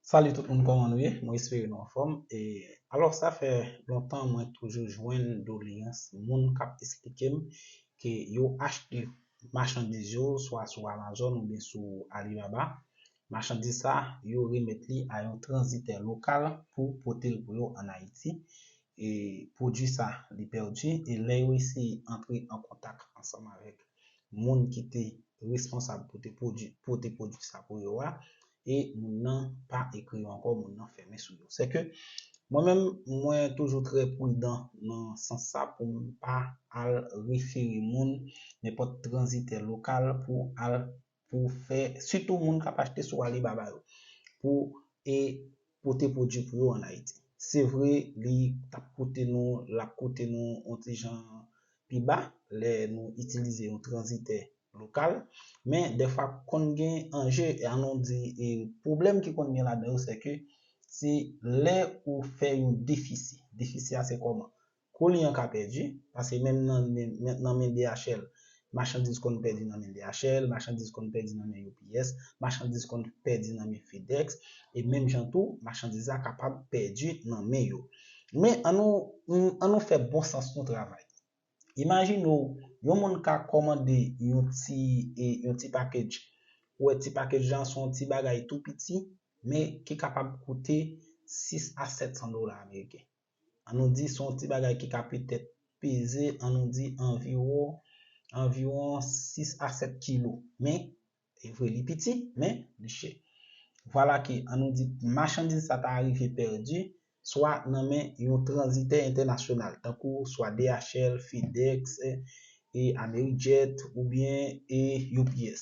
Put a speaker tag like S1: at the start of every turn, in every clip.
S1: Salut tout moun kòman nou ye mwen espere nou anfòm e alò sa fè lontan mwen toujou jwenn doleans moun kap esplikem ke yo achte machandiz yo swa sou amazon oubyen sou alibaba machandiz sa yo remèt li a yon tranzitè lokal pou potel pou yo an ayiti e pwodwi sa li pèdi e lè yo eseye antre an kontak ansanm avèk moun ki te responsab pou te pwodwi pote pwodwi sa pou yo a e moun nan pa ekri yo ankò, moun nan fèmen sou yo. Sè ke mwen menm mwen toujou trè prudan nan sans sa pou m pa al refere moun, nenpòt tranzitè lokal pou al pou fè, sitou moun k ap achte sou Alibaba yo, pou e pote pwodui pou yo an Ayiti. Se vre li t ap koute nou, l ap koute nou yon ti jan pi ba lè nou itilize yon tranzitè lokal, men dèfwa konn gen anje, an nou di pwoblèm ki konn gen ladan yo sèke se lè ou fè yon defisi. Defisi a se kòman? Kolyen an ka pèdi, pase menm nan men DHL, machandiz konn pèdi nan men DHL, machandiz konn pèdi nan men UPS, machandiz konn pèdi nan men FedEx, e menm jan tou, machandiz la kapab pèdi nan men yo. Men, an nou, an nou fè bon sans nou travay. Imajine w, yon moun ka kòmande yon ti, yon ti package, ou wè ti package lan se yon ti bagay tou piti, men ki kapab koute 6 a 700 dola ameriken. an nou di se yon ti bagay ki ka petèt peze an nou di anviwon anviwon 6 a 7 kilo men e vre li piti men li chè vwala ke an nou di machandiz sa ta rive pèdi swa nan men yon tranzitè entènasyonal tankou swa DHL, Fedex e Amerijet oubyen e UPS.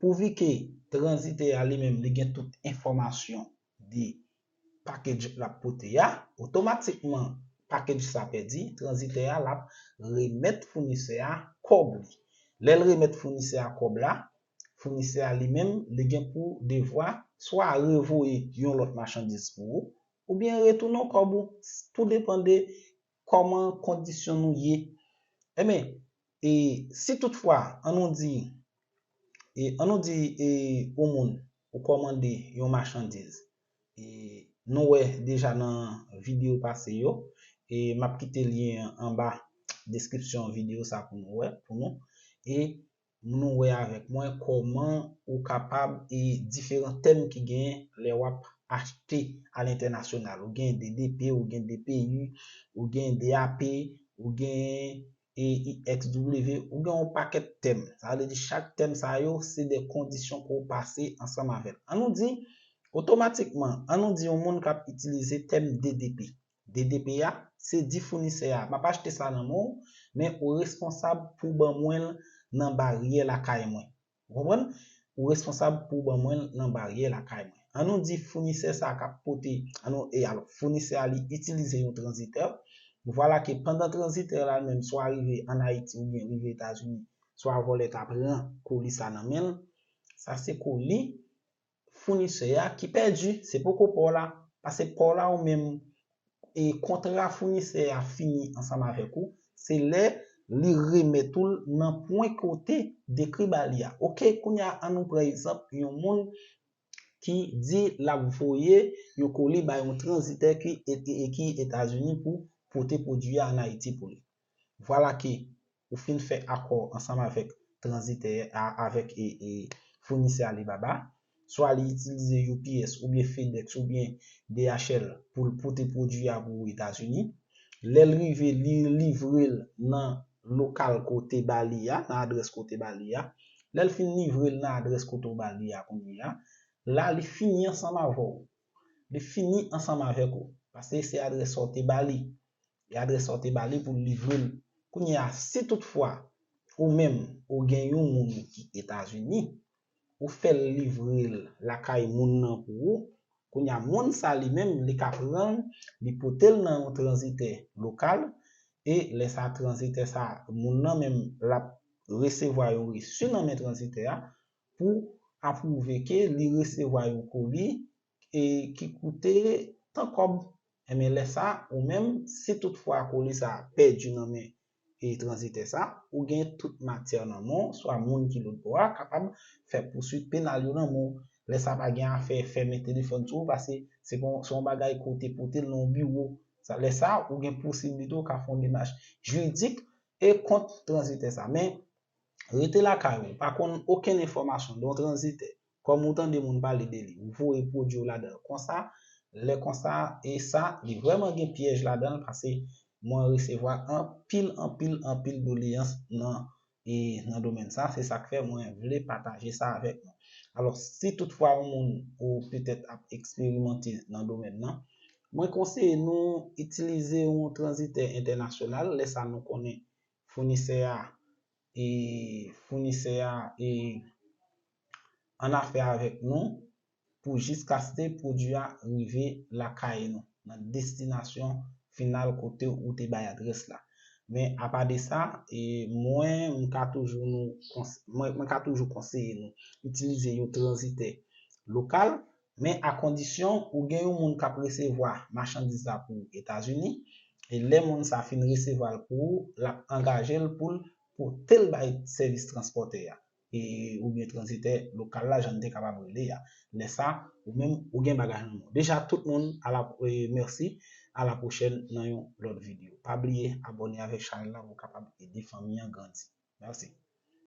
S1: Pouvi ke transite a li menm li gen tout enfòmasyon de package lap pote a, otomatikman package sa pèdi, transitè a lap remèt founisè a kòb li. Lè l remèt founisè a kòb la, founisè a li menm li gen pou devwa swa revoye yon lòt machandiz pou ou, oubyen retounen w kòb ou, tou depan de Kòman kondisyon nou ye? Enben, e si tout fwa, an nou di, e an nou di e ou moun, ou kòmande yon machandiz, e nou wè deja nan videyo pase yo, e m ap kite lyen an anba deskripsyon videyo sa pou nou wè, pou nou, e mnou wè avèk mwen kòman ou kapab e diferan tèm ki gen lè wap achte a lentènasyonal ou gen DDP ou gen DPU ou gen DAP ou gen EIXW ou gen yon pakèt tèm sa vle di chak tèm sa yo se de kondisyon pouw pase ansanm avèl an nou di otomatikman an nou di yon moun kap itilize tèm DDP DDP a, se di founisè a, m ap achte sa nan men w, men ou responsab pou w ban mwen l nan baryè lakay mwen. Ou konprann? Ou responsab pou w ban mwen l nan baryè lakay mwen. An nou di founisè sa a k ap pote, an nou, e alò, founisè a li itilize yon tranzitè, vwala ke pandan tranzitè la menm swa rive ann Ayiti oubyen rive Etazini, swa vòlè ta pran koli sa nan men l, sa se koli founisè a ki pèdi, se poko pa w la, pase pa w la ou menm e kontra founisè a fini ansanm avèk ou, se lè li remèt ou l nan pwen ke w te dekri ba li a. Ok, kounye a an nou pran egzanp yon moun ki di l ap voye yon koli bay yon tranzitè ki Etazini pou pote pwodui a an Ayiti pou li. Vwala ke ou fin fè akò ansanm avèk tranzitè a avèk founisè Alibaba, swa li itilize UPS oubyen FedEx oubyen DHL pou l pote pwodui a pou ou Etazini. Lè l rive, li livre l nan lokal ke w te ba li a, nan adrès ke w te ba li a. Lè l fin livre l nan adrès kote w ba li a kounyeya, la li fini ansanm avè w. li fini ansanm avèk ou, paske se adrès sa ou te ba li, e adrès sa ou te ba li pou l livre l. Kounye a, si tout fwa, ou menm, ou gen yon moun ki Etazini, ou fè l livre l lakay moun nan pou ou, kounye a moun sa li menm, li ka pran l, li pote l nan yon tranzitè lokal, e lè sa tranzitè sa, moun nan menm, l ap resevwa yon resu nan men tranzitè a, pou apwouve ke li resevwa yon koli e ki koute tan kòb, enben lè sa ou menm, si tout fwa koli sa a pèdi nan men e tranzitè sa, ou gen tout matyè nan men w, swa moun ki lòt bò a kapab fè pouswit penal yo nan men w. Lè sa pa gen afè fèmen telefòn sou ou pase se pa yon se yon bagay ke w te pote l nan yon biwo. Sa lè sa ou gen posiblite ou ka fè yon demach jiridik e kont tranzitè sa. Men, rete lakay ou, pa konn okenn enfòmasyon de yon tranzitè, kòm ou tande moun pale de li, ou voye pwodui w ladan l konsa, lè konsa e sa li vrèman gen pyèj ladan l pase mwen resevwa anpil anpil anpil doleyans nan e nan domèn sa, se sa k fè mwen vle pataje sa avèk nou. Alò, si tout fwa yon moun ou petèt ap eksperimante nan domèn nan, mwen konseye nou itilize yon tranzitè entènasyonal lè sa nou konnen founisè a e founisè a e annafè avèk nou pou jiskaske pwodui a rive lakay nou, nan destinasyon final kote ou te bay adrès la. Men apa de sa, mwen m ka toujou nou mwen ka toujou konseye nou itilize yon tranzitè lokal men a kondisyon ou gen yon moun kap resevwa machandiz la pou ou Etazini, e lè moun sa fin resevwa l pou ou, lap angaje l pou l pote l bay sèvis transpòtè a, oubyen tranzitè lokal la jan n te kapab rele a, lè sa ou menm ou gen bagay nan men w deja tout moun ala mèsi ala pwochèn nan yon lòt video pa bliye abòne avèk chanèl la pou w kapab ede fanmi an grandi mèsi.